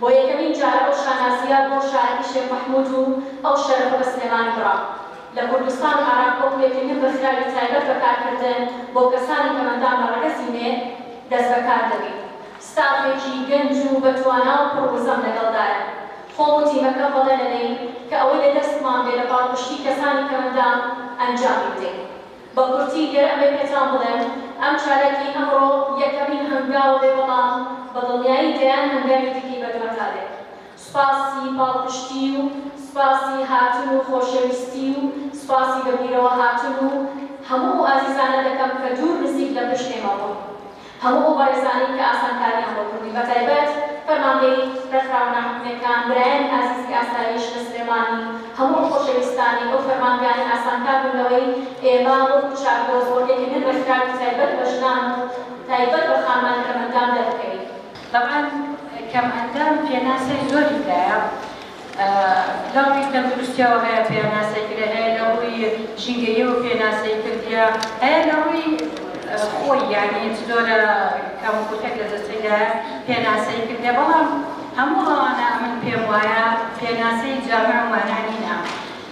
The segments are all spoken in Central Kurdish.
بۆ یەکەمین جار ئەو شانازییە بۆ شاعیری شێخ مەحموود و ئەو شەرەفە بە سلێمانی بڕا. لە کوردستان ئارام کۆپلێکی نوێ ڕێکخراوی تایبەت بە کارکردن بۆ کەسانی کەمەندان بە ڕەگەزی مێ دەستبەکار دەبیت. ستافێکی گەنج و بە توانا و پڕ وزەم لەگەڵدایە. خۆم و تیمەکەم بەڵێن دەدەین کە ئەوەی لە دەستمان بێ لە پاڵپشتی کەسانی کەمەندان ئەنجامی بدەین. بە کورتی گەر ئەبێ پێتان بڵێم ئەم چالاکی ئەمڕۆ یەکەمین هەنگاوە بێ بەڵام بە دڵنیایی دەیان هەنگاوی دیکەی بەدواتا دێ سوپاسی پاڵپشتی و سوپاسی هاتن و خۆشەویستی و سوپاسی بە بیرەوە هاتن و هەموو ئەو ئازیزانە دەکەم کە دوور نزیک لە پشت ئێمە بوون هەموو ئەو بەڕێزانەی کە ئاسانکاریان بۆ کردی بە تایبەت فەرمانگەی ڕێکخراوە ناحکومیەکان برایانی ئازیزی ئاسایش لە سلێمانی هەموو ئەو خۆشەویستانەی ئەو فەرمانگانە ئاسانکار بوون لەوەی ئێمە وەکو چاکۆ زۆر دەیکەمین ڕێکخراوی تایبەت بە ژنان و تایبەت بە خانمانی کەمئەندام دەربکەوین. تەبعەن کەمئەندام پێناسەی زۆری تایە. لە ڕووی تەندروستیەوە هەیە پێاناسەی کرێ هەیە لە ڕووی ژینگەیەوە پێناسەی کردیە هەیە لە ڕووی خۆی یعنی چ جۆرە کەم و کورتێک لە جەستەیدایە پێناسەی کردیە بەڵام هەموو ئەوانە من پێم وایە پێناسەی جامع و مانا نینە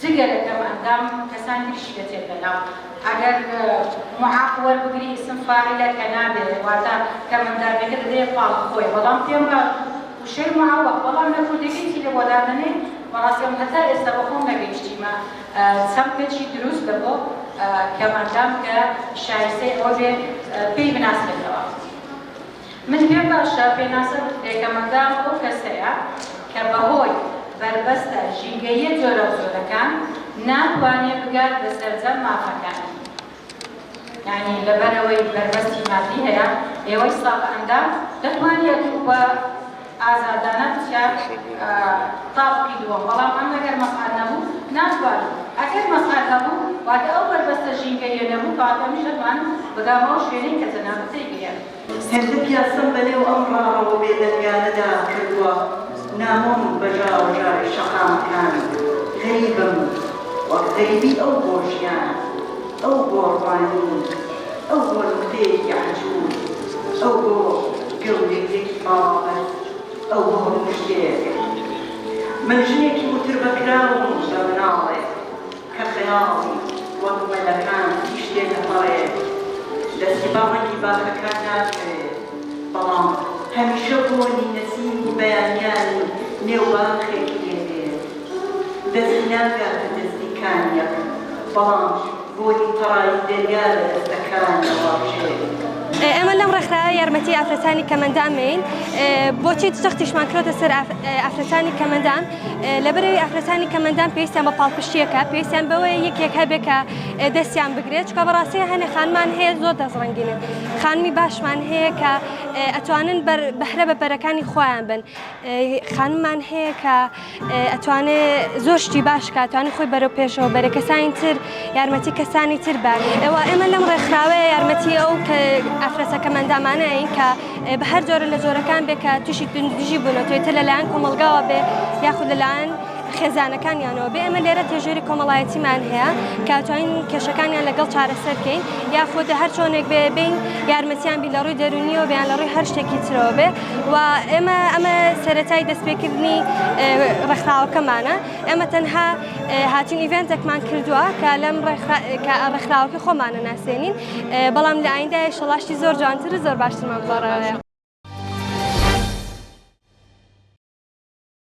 جگە لە کەم ئەندام کەسان تریشی دەچێت بە ناو. ئەگەر معاق وەربگری ئیسم فاعیلە کە نابێت واتە کەم ئەندامیەکە دەدەیە پاڵ خۆی بەڵام پێم را وشەی معوق بەڵام لە کوردیەکەی چی لە بۆ دادەنێ بەڕاستی ئەم هەتا ئێستا بە خۆم نەگەیشتیمە چەمکەکی دروست لە بۆ کەم ئەندام کە شایستەی ئەوە بێ پێی بناسرێتەوە. من پێم باشە پێناسە بکرێ کە مەدام ئەو کەسەیە کە بە هۆی بەربەستە ژینگەییە جۆراوجۆرەکان ناتوانێ بگات بە سەرجەم مافەکانی یانی لەبەر ئەوەی بەربەستی مادی هەیە ئێوەی ساغ ئەندام دەتوانیەت و بە ئازادانە پچە تاڤکی دووەم بەڵام ئەم ئەگەر مەقال نەبوو ناتوانی ئەگەر مەقال هەبوو واتە ئەو بەربەستە ژینگەییە نەبوو کەواتە ئەمیش ئەتوان بگامەوە شوێنەی کە جەنابت تێیگەیاند. هەندەک یاسەم بەنێو ئەم ڕاڕەوە بێدەنگانەدا کردووە نامۆم بە ژاوەژاوی شەقامەکان غەریبم وەک غەریبی ئەو بۆ ژیان ئەو بۆ ڕوانین. ئەو بۆ نوکتەیەکی عەجوز، ئەو بۆ گەورەییەکی باڵابەست، ئەو بۆ موژدەیەک. من ژنێکی وتربەکراوم بە مناڵێک کە خەیاڵی وەک مەلەکان پیش دێ دەپەڕێ، دەستی بە ڕەنگی باخەکان ناکەوێ، بەڵام هەمیشە بۆنی نەسیمی بەیانیانی نێو باخێک لێ دێ. دەستی ناگاتە دەستی کانیەک، بەڵام. بۆنی پەڕاوی دەریا لە دەستەکانیەوە ڕژێنی. ئێمە لەم ڕێکخراوە یارمەتی ئافرەتانی کەمەندان مین بۆچی جەختیشمان کردۆتە سەر ئافرەتانی کەمەندان لەبەرەوەی ئافرەتانی کەمەندان پێویستیان بە پاڵپشتیەکە پێویستیان بەوەیە یەکێک هەبێ کە دەستیان بگرێت چکە بەڕاستی هەنێ خانمان هەیە زۆر دەستڕەنگینن خانمی باشمان هەیە کە ئەتوانن بەرە بەهرە بەپەرەکانی خۆیان بن خانمان هەیە کە ئەتوانێ زۆر شتی باش کاتوانانی خۆی بەرەو پێشەوە بەرە کەسانی تر یارمەتی کەسانی تر بە ئەوە ئێمە لەم ڕێکخراوەیە یارمەتی ئەو کە ئافرەتەکەمەندامانەیە کە بە هەر جۆرە لە جۆرەکان بێ کە تووشی توندژی بوونە توێتە لەلایەن کۆمەلگاوە بێ یاخود لەلایەن خێزانەکانیانەوە بێ ئەمە لێرە تێژێری کۆمەڵایەتیمان هەیە کاتوانین کێشەکانیان لەگەڵ چارەسەرکەین یاخود هەر چۆنێک بێ بین یارمەتیان بی لە ڕووی دەرونیەوە بیان لە ڕووی هەر شتێکی ترەوە بێ و ئێمە ئەمە سەرەتای دەستپێکردنی ڕێکخراوەکەمانە ئێمە تەنها هاتین ئیڤێنتێکمان کردووە کە لەم ڕێکخراوەکە خۆمانە ناسێنین بەڵام لە ئایندا شەڵاشتی زۆر جوانتر زۆر باشترمان بەڕێ